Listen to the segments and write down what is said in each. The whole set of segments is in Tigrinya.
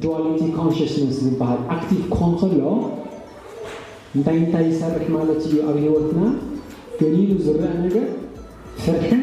ዱዋሊቲ ኮንሽስነስ ዝበሃል ኣክቲቭ ክኾን ከሎ እንታይ እንታይ ይሰርሕ ማለት እዩ ኣብ ሂወትና ገሊሉ ዝረአ ነገር ፍርሕን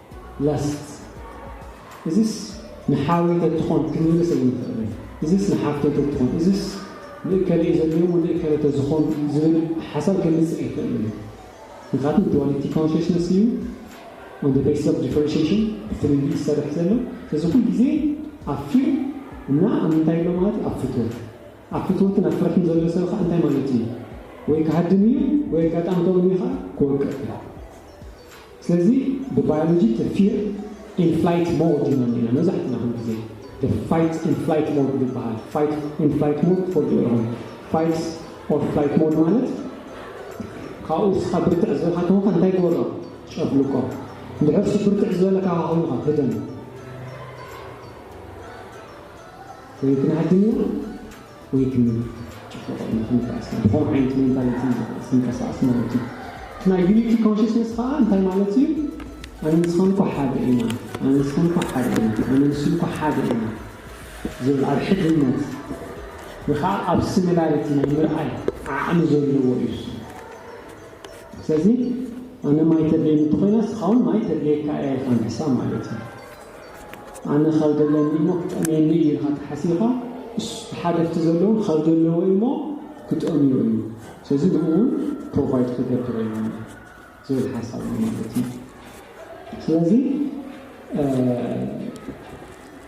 ላስት እዝስ ንሓወይ ተትኾን ክንምልስ ኣይንኽእልን እዝስ ንሓፍተይ ተትኾን እዝስ ንእከለ እዩ ዘድልየሞ ንእከለ ተዝኾን ዝብል ሓሳብ ከምጽእ ኣይክእልን እዩ ምኽንያቱ ዱዋሊቲ ኮንሸስነስ እዩ ኦን ዘ ቤስስ ኦፍ ዲፈረንሽየሽን ብፍልልይ ዝሰርሕ ዘሎ ስለዚ ኩሉ ግዜ ኣብ ፊር እና ኣብ ምንታይ ኣሎ ማለት እዩ ኣብ ፍትወት ኣብ ፍትወትን ኣብ ፍርሕን ዘሎ ሰብ ኸኣ እንታይ ማለት እዩ ወይ ክሃድም እዩ ወይ ኣጋጣሚ ከምኡ እዩ ኸኣ ክወቅዕ እዩ። ስለዚ ብባዮሎጂ እቲ ፊር ኢን ፍላይት ሞድ ኢና እኒኤና መብዛሕትና ኩሉ ግዜ the fight and flight mode ዝበሃል fight and flight mode ትፈልጥዎ ኢኹም fight or flight mode ማለት ካብኡ እስኻ ብርትዕ ዝበልካ ተኾንካ እንታይ ግበሮ ጨፍልቆ እንድሕር እሱ ብርትዕ ዝበለ ካባኻ ኮይኑኻ ህደም ወይ ክንሃድም ኢና ወይ ክምል ጭፍልቆ ኢልና ክንርዳእ እስከ ብኸምኡ ዓይነት ሜንታሊቲ ኢና ክንቀሳቀስ ማለት እዩ እቲ ናይ ዩኒቲ ኮንሽስነስ ከኣ እንታይ ማለት እዩ ኣነ ንስኻን እኮ ሓደ ኢና ኣነ ንስኻን እኮ ሓደ ኢና ኣነ ንሱን እኮ ሓደ ኢና ዝብል ኣብ ሕድነት ወይ ከኣ ኣብ ሲሚላሪቲ ናይ ምርኣይ ዓቅሚ ዘለዎ እዩ እሱ ስለዚ ኣነ ማይ ተድልየኒ እንተኾይና ንስኻ ውን ማይ ተድልየካ እያ ኢልካ ምሕሳብ ማለት እዩ። ኣነ ካብ ደለኒ እሞ ክጠምየኒ እዩ ኢልካ ተሓሲኻ እሱ ተሓደፍቲ ዘለዉ ካብ ዘለዎ እዩ እሞ ክጠምዮ እዩ ስለዚ ንኡ እውን ፕሮቫይድ ክገብር እዩ ዝብል ሓሳብ እዩ ማለት እዩ ስለዚ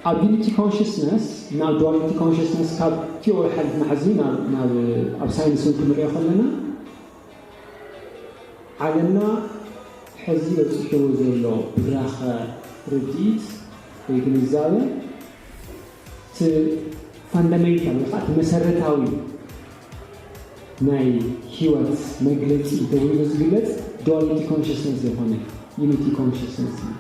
ኣቢሊቲ ኮንሽስነስ ናብ ዱዋሊቲ ኮንሽስነስ ካብ ቲዎሪ ሓሊፍና ሕዚ ናብ ኣብ ሳይንስ ክንሪኦ ከለና ዓለምና ሕዚ በፂሕዎ ዘሎ ብራኸ ርድኢት ወይ ግንዛበ እቲ ፋንዳሜንታል ወይ ከዓ እቲ መሰረታዊ ናይ ህይወት መግለፂ ተባሂሉ ዝግለፅ ዱዋሊቲ ኮንሽስነስ ዘይኮነ ዩኒቲ ኮንሽስነስ እዩ።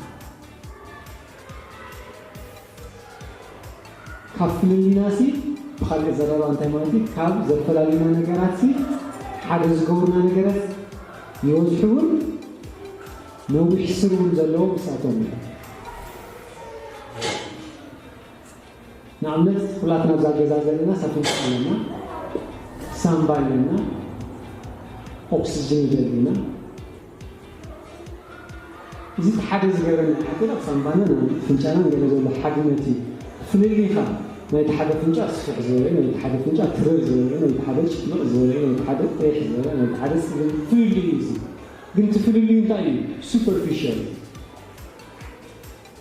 ካብ ፍልልይናሲ ብኻልእ ዘረባ እንታይ ማለት እዩ ካብ ዘፈላልዩና ነገራትሲ ሓደ ዝገብሩና ነገረት ይበዝሑ ውን ነዊሕ ስር ውን ዘለዎ ምስኣቶም እዩ። ንኣብነት ኹላትና ኣብዛ ገዛ ዘለና ሳትንኩ ኣለና ሳምባ ኣለና ኦክስጅን ይደልዩና እዚ እቲ ሓደ ዝገረመኒ ሓገር ኣብ ሳንባናን ኣብ ፍንጫናን ገለ ዘሎ ሓድነት እዩ። ፍልልይካ ናይቲ ሓደ ፍንጫ ስፍሕ ዝበለ ናይቲ ሓደ ፍንጫ ትረር ዝበለ ናይቲ ሓደ ጭፍልቕ ዝበለ ናይቲ ሓደ ቕይሕ ዝበለ ናይቲ ሓደ ጸሊም ፍልልይ እዩ እዚ ግን እቲ ፍልልይ እንታይ እዩ ሱፐርፊሻል እዩ።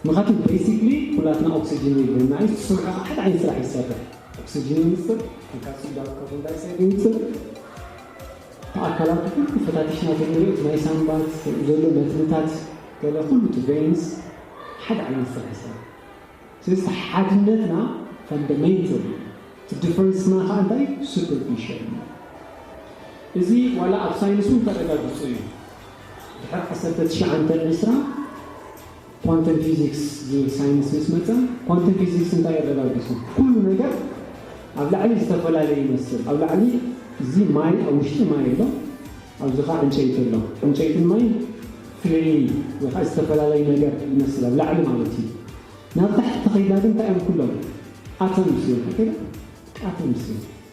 ምክንያቱ በይሲክሊ ኩላትና ኦክስጅን የድልየና እዩ እሱ ካዓ ሓደ ዓይነት ስራሕ እዩ ዝሰርሕ ኦክስጅን የምፅእ ፖታሲዩም ባብ ካርቦን ዳይኦክሳይድ የምፅእ እቲ ኣካላቱ ኩሉ ፈታቲሽና ተንሪኦ እቲ ናይ ሳንባት ከምኡ ዘሎ መትንታት ገለ ኩሉ እቲ ቨይንስ ሓደ ዓይነት ስራሕ ይሰርሕ ስለዚ እቲ ሓድነትና ፋንደሜንተል እዩ እቲ ድፈረንስና ካዓ እንታይ እዩ ሱፐርፊሻል እዩ እዚ ዋላ ኣብ ሳይንስ እውን ተረጋጊፁ እዩ። ድሕሪ ዓሰርተ ትሽዓንተ ን ዕስራን ኳንተም ፊዚክስ ዝብል ሳይንስ ምስ መጸ፣ ኳንተም ፊዚክስ እንታይ እዩ ኣረጋጊጹ? ኩሉ ነገር ኣብ ላዕሊ ዝተፈላለየ ይመስል። ኣብ ላዕሊ እዚ ማይ ኣብ ውሽጢ ማይ ኣሎ፣ ኣብዚ ከኣ ዕንጨይቲ ኣሎ። ዕንጨይትን ማይን ፍልልይ ወይ ከኣ ዝተፈላለየ ነገር ይመስል ኣብ ላዕሊ ማለት እዩ። ናብ ታሕቲ ተኸይድና ግን እንታይ እዮም ኩሎም? ኣተምስ እዮም። ኣተምስ እዮም።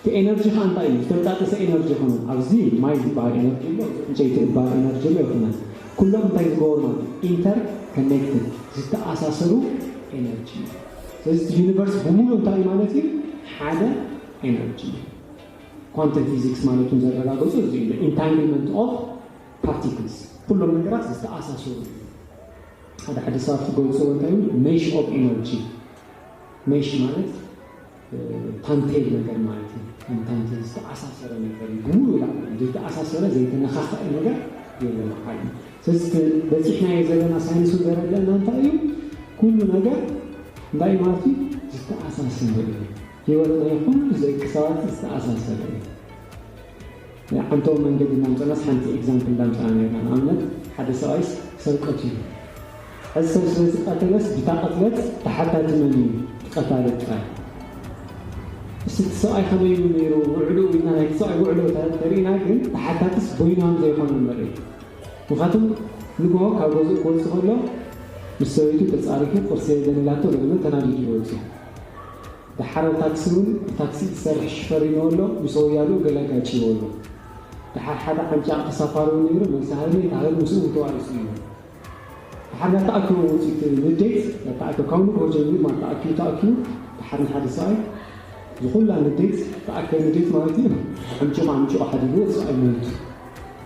እቲ ኤነርጂ ከኣ እንታይ እዩ ዝተንጣጠሰ ኤነርጂ ኣይኮነን ኣብዚ ማይ ዝበሃል ኤነርጂ ኣሎ እዚ ዕንጨይቲ ዝበሃል ኤነርጂ ኣሎ ኣይኮነን ኩሎም እንታይ ዝገበሩ ማለት እዩ ኢንተር ከኔክትድ ዝተኣሳሰሩ ኤነርጂ እዩ ስለዚ እቲ ዩኒቨርስ ብሙሉእ እንታይ እዩ ማለት እዩ ሓደ ኤነርጂ እዩ ኳንተም ፊዚክስ ማለት እውን ዘረጋገፁ እዚ እዩ ኢንታንግልመንት ኦፍ ፓርቲክልስ ኩሎም ነገራት ዝተኣሳሰሩ እዩ ሓደ ሓደ ሰባት ክገልፅዎ እንታይ እዩ ሜሽ ኦፍ ኤነርጂ ሜሽ ማለት ታንቴል ነገር ማለት እዩ። ከም ታንቴል ዝተኣሳሰረ ነገር እዩ። ብሙሉእ ዳኣ ዘይተኣሳሰረ ዘይተነኻኸኤ ነገር የለን ኣብ ዓለም። ስለዚ እቲ በፂሕናዮ ዘለና ሳይንሱ ዘረደእና እንታይ እዩ? ኩሉ ነገር እንታይ ማለት እዩ? ዝተኣሳሰረ እዩ። ህይወት ናይ ኩሉ ደቂ ሰባት ዝተኣሳሰረ እዩ። ንዓንተዎ መንገዲ እንዳምጻናስ ሓንቲ ኤግዛምፕል እንዳምጻና ኔርና ንኣብነት ሓደ ሰብኣይስ ሰብ ቀቲሉ ሐዚ ሰብ ስለ ዝቀተለስ ብታ ቅትለት ተሓታቲ መን እዩ እቲ ቀታሊ ጥራይ እስቲ እቲ ሰብኣይ ከመይ እዩ ኔሩ ውዕልኡ ኢልና ናይቲ ሰብኣይ ውዕሎ ተሪኢና ግን ተሓታትስ ቦይናም ዘይኮነ ንርኢ ምክንያቱም ንግሆ ካብ ገዝኡ ክወጽእ ከሎ ምስ ሰበይቱ ተጻሪፉ ቁርሲ የለን ኢላቶ ገለ ተናዲዱ እዩ ወጺኡ። ደሓር ታክሲ ውን ብታክሲ ዝሰርሕ ሽፈር ሪመዮ ኣሎ ምስ ወያልኡ ገለ ኣጋጭይዎ ኣሎ ደሓር ሓደ ዓንጫዕ ተሳፋሪ ውን ነይሩ መልሲ ሃይለ እታ ሃይለ ምስኡ ውን ተዋኢሱ እዩ ደሓር ናታ ኣኪቦም ውጺት ንዴት ናታ ኣኪቦም ካብ ንግሆ ጀሚሩ ማለት ተኣኪቡ ተኣኪቡ ደሓር ንሓደ ሰብኣይ ዝኩላ ንዴት ተኣከ ንዴት ማለት እዩ ዓምጭቆ ዓምጭቆ ሓዲግዎ ሰብኣይ ሞይቱ